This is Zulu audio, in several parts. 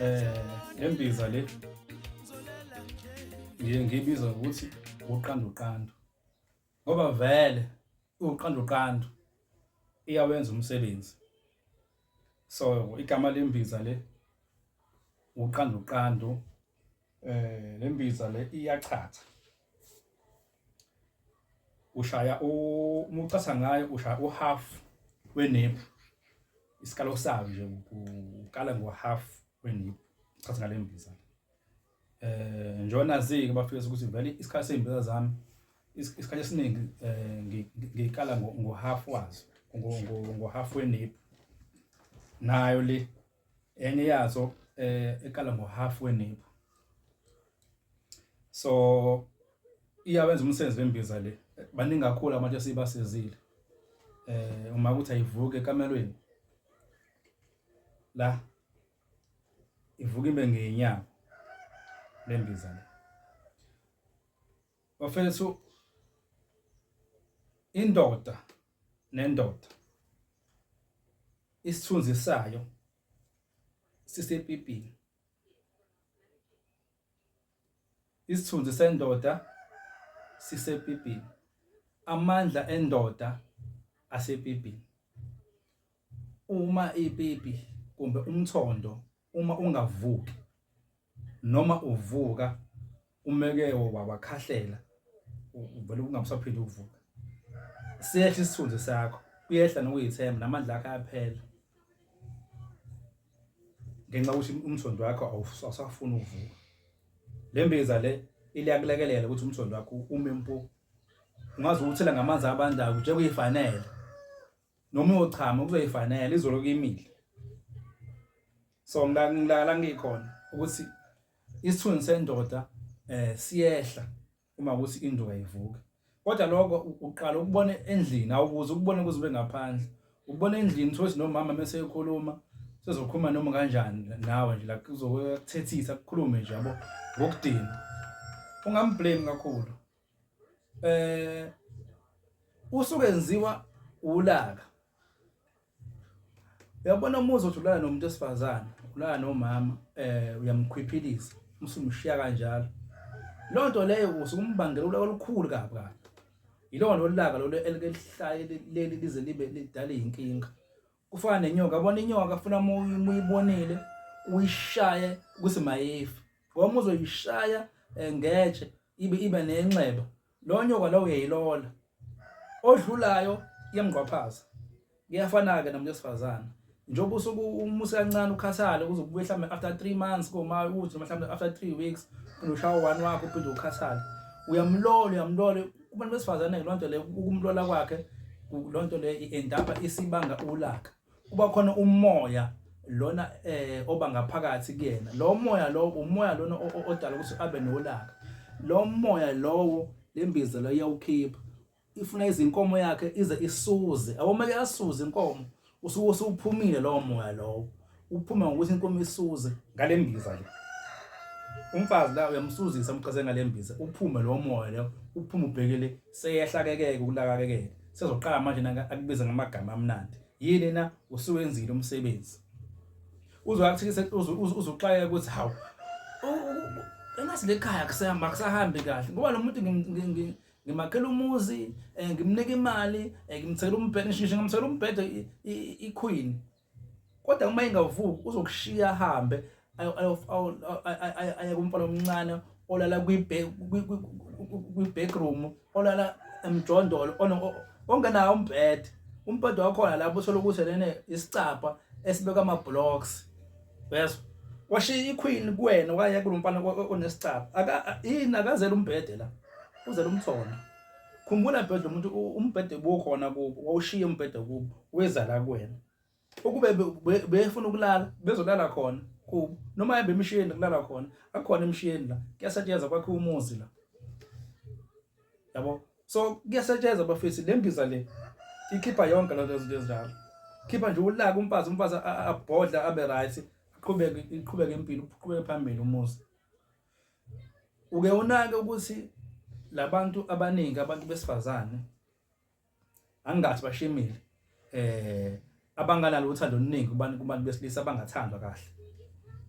eh nembiza le ngiye ngibiza ukuthi uqanduqandu ngoba vele uqanduqandu iyawenza umsebenzi so igama lembiza le uqanduqandu eh lembiza le iyachatha ushaya uma ucasa ngayo ushaya uhalf weniphu isikalo sayo nje ukala ngohalf weniphu ucasa ngale mbiza eh njona zike bafike ukuthi vele isikhathi sembiza zami isikhathi esiningi eh, ngikala ngohalf wazo ngohalf weniphu nayo le enye yazo eh eqala ngo half wenebu so iyawenza umsebenzi wembiza le baningi kakhulu abantu esibasizile eh uma kuthi ayivuke ekamelweni la ivuka ibe ngenyanga lembiza le Bafethu indoda nendoda isithunzi sayo sisepipini isithunzi sendoda sisepipini amandla endoda asepipini uma ipipi kumbe umthondo uma ungavuki noma uvuka umeke wawakhahlela uvele ungabusaphinde ukuvuka siyehla isithunzi sakho kuyehla nokuyithemba namandla akho ayaphela ngenxa ukuthi umthondo wakho awusafuni ukuvuka le mbiza le iliyakulekelela ukuthi umthondo wakho ume mpo ungaze uwuthela ngamanzi abandayo nje kuyifanele noma uyochama kuzoyifanela izolo kimile so ngilala ngikhona ukuthi isithunzi sendoda eh siyehla uma ukuthi induka ivuka kodwa lokho uqala ukubona endlini awukuze ukubone kuze ube ngaphandle ukubona endlini thothi nomama mase ekhuluma sezokhuluma noma kanjani nawe nje la kuzokuthethisa kukhulume nje yabo ngokudinga ungamblame kakhulu eh usuke enziwa ulaka uyabona uma uzothulana nomuntu esifazane ulana nomama eh uyamkhwiphilisa umsumshiya kanjalo loo nto leyo usuke umbangela ulaka olukhulu kabi kabi yilona olulaka lolu elike lihlaye leli lize libe lidale inkinga kufana nenyoka yabona inyoka funa muyibonile uyishaye ukuthi mayefi ngoba uzoyishaya eh, ngetshe ibe ibe nenxeba lo nyoka lo uyayilola odlulayo yemgqwaphaza kuyafana-ke nomuntu wesifazane njengoba usuke umusa kancane ukhathale kuze kubuye mhlawumbe after three months koma ukuthi mhlawumbe after three weeks ushaya one wakho uphinde ukhathale uyamlola uyamlola kubantu besifazane-ke loo nto le ukumlola kwakhe loo nto le endaba isibanga ulaka kuba khona umoya lona eh oba ngaphakathi kuyena lo moya lo umoya lona odala ukuthi abe nolaka lo moya lowo lembiza lo iyawukhipha ifuna izinkomo yakhe ize isuze awumeke asuze inkomo usuke usuphumile lowo moya lowo uphuma ngokuthi inkomo isuze ngale mbiza le umfazi la uyamsuzisa umqase ngale mbiza uphume lowo moya leyo uphume ubhekele seyehlakekeke ukulakakekeke sezoqala manje naka akubiza ngamagama amnandi yini na usuwenzile umsebenzi uzoyakuthikisa uzuxayeka ukuthi hawu engathi lekhaya kusahamba kusahambi kahle ngoba lo muntu ngimakhela umuzi um ngimnika imali um ngimthekela umbhede ngisho ngimthekela umbhede iqueen kodwa uma ingavuki uzokushiya ahambe aye kumfana omncane olala kwi-backroom olala emjondolo ongenawo umbhede umbhede wakhona lapho uthole ukuthi lene isicabha esibeka ama-blocks uyezwa washiya iqueen kuwena okanye kulomfana onesicaba aka yini akazela umbhede la uzela umthona khumbula bhedla umuntu umbhede bukhona kubo wawushiya umbhede kubo weza la kuwena ukube befuna ukulala bezolala khona kubo noma yebe emishiyeni kulala khona akukhona emishiyeni la kuyasetshenzwa kwakhe umuzi la yabo so kuyasetshenzwa bafethu le mbiza le ikhipha yonke lento ezinto ezinjalo khipha nje ulaka umfazi umfazi abhodla abe right iqhubeke iqhubeke impilo uqhubeke phambili umuzi uke unake ukuthi labantu abaningi abantu besifazane angathi bashimile eh abanganalo uthando oluningi kubantu kubantu besilisa abangathandwa kahle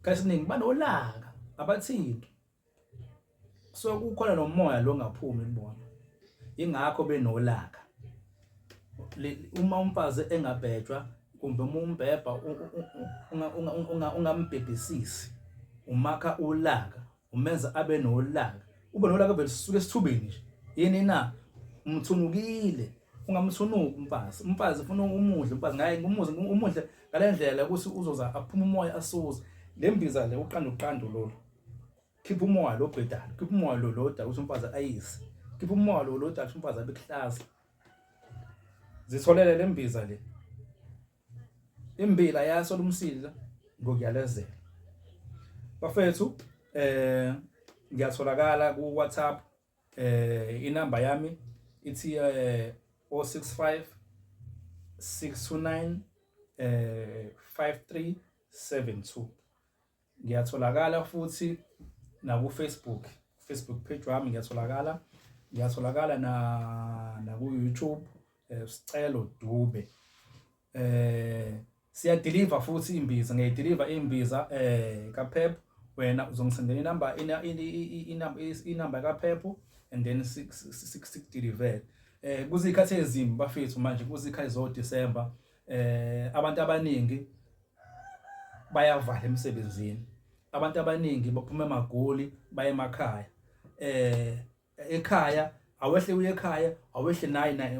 kasiningi banolaka abathindi so kukhona nomoya lo ngaphumi kubona ingakho benolaka uma umfazi engabhejwa kumbe uma umbhebha ungambhebhisisi umakha ulaka umenza abe nolaka ube nolaka vele sisuke esithubeni nje yini na umthunukile ungamthunuki umfazi umfazi ufuna umudle umfazi ngaye ngumuze umudle ngalendlela ukuthi uzoza aphuma umoya asuze lembiza le uqanda uqando lolu khipha umoya lo bhedala khipha umoya lo loda ukuthi umfazi ayise khipha umoya lo loda ukuthi umfazi abe kuhlaza zitholele lembiza le imbila yaso lomsila ngokuyalezela bafethu eh ngiyatholakala ku WhatsApp eh inamba yami ithi eh 065 629 eh 5372 Ngiyatholakala futhi naku-Facebook, Facebook page wami ngiyatholakala, ngiyatholakala na naku-YouTube eh, Sicelo Dube. Eh siyadeliver futhi imbiza, ngiyayideliver imbiza eh kaPep wena uzongisendela inamba inamba inamba kaPep and then sikudeliver. Eh kuzikhathi ezimbi bafethu manje kuzikhathi zo December eh abantu abaningi bayavala emsebenzini abantu abaningi baphuma emagoli baye emakhaya eh ekhaya awehle uye ekhaya awehle naye naye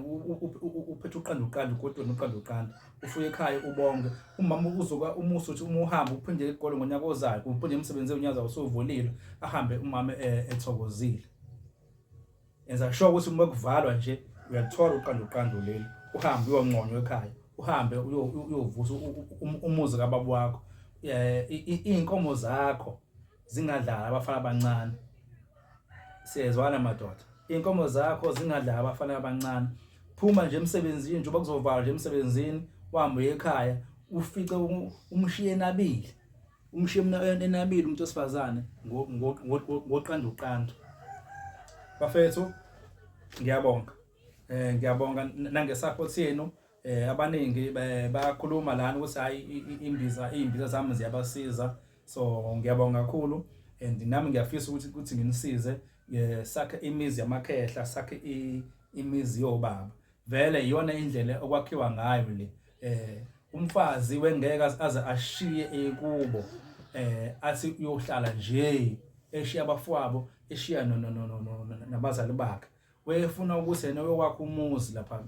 uphethe uqanda uqanda ugodweni uqanda uqanda ufuye ekhaya ubonge umama uzoka umusa uthi uma uhamba uphinde egolo ngonyaka ozayo uphinde emsebenzi unyaka usuvulile ahambe umama eh, ethokozile Enza sure ukuthi uma kuvalwa nje uyathola uqanda uqanda leli uhambe uyonconywa ekhaya uhambe uyovusa um, umuzi kababa wakho eh, iy'nkomo zakho zingadlala abafana abancane siyezwana madoda iy'nkomo zakho zingadlala abafana abancane phuma nje emsebenzini njengoba kuzovalwa nje emsebenzini uhambe uye ekhaya ufice umshiye nabili umshimna enabile umuntu osifazane ngoqanda uqanda bafethu ngiyabonga eh ngiyabonga nangesupport yenu eh abaningi bayakhuluma lana ukuthi hayi imbiza imbiza zami ziyabasiza so ngiyabonga kakhulu and nami ngiyafisa ukuthi ukuthi nginisize eh, sakhe imizi yamakhehla sakhe imizi yobaba vele iyona indlela okwakhiwa ngayo le eh umfazi wengeke aze ashiye ekubo eh athi uyohlala nje eshiya abafowabo eshiya no no no nabazali bakhe wefuna ukuthi yena uyokwakha umuzi lapha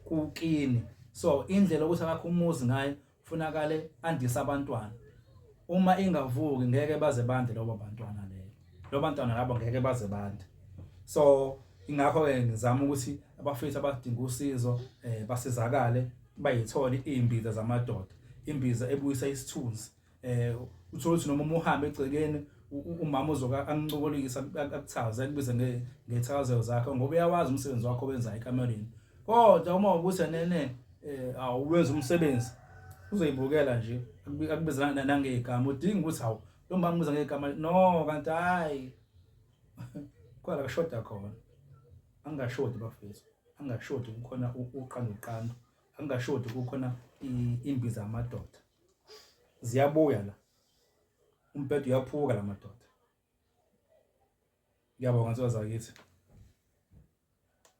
kukini so indlela ukuthi akakho umuzi ngayo Funakale andisa abantwana. Uma ingavuki ngeke baze bande lobo bantwana leyo. Lobo bantwana labo ngeke baze bande. So ingakho ke ngizama ukuthi abafethu abadinga usizo eh basizakale bayithole imbiza zamadoda. Imbiza ebuyisa isithunzi. Eh uthola ukuthi noma umuhambe egcekeni umama uzoka angicokolisa akuthaze akubize ngethakazelo zakhe ngoba uyawazi umsebenzi wakho wenza ekamelweni kodwa uma ubuthi nene eh awuwenza umsebenzi uzoyibukela nje akubiza nangegama udinga ukuthi hawu lo mama ubiza ngegama no kanti hayi kwala kushoda khona angashodi bafethu angashodi kukhona uqanda uqanda angashodi kukhona imbiza amadoda ziyabuya la umbhedo uyaphuka la madoda ngiyabonga nsuka zakithi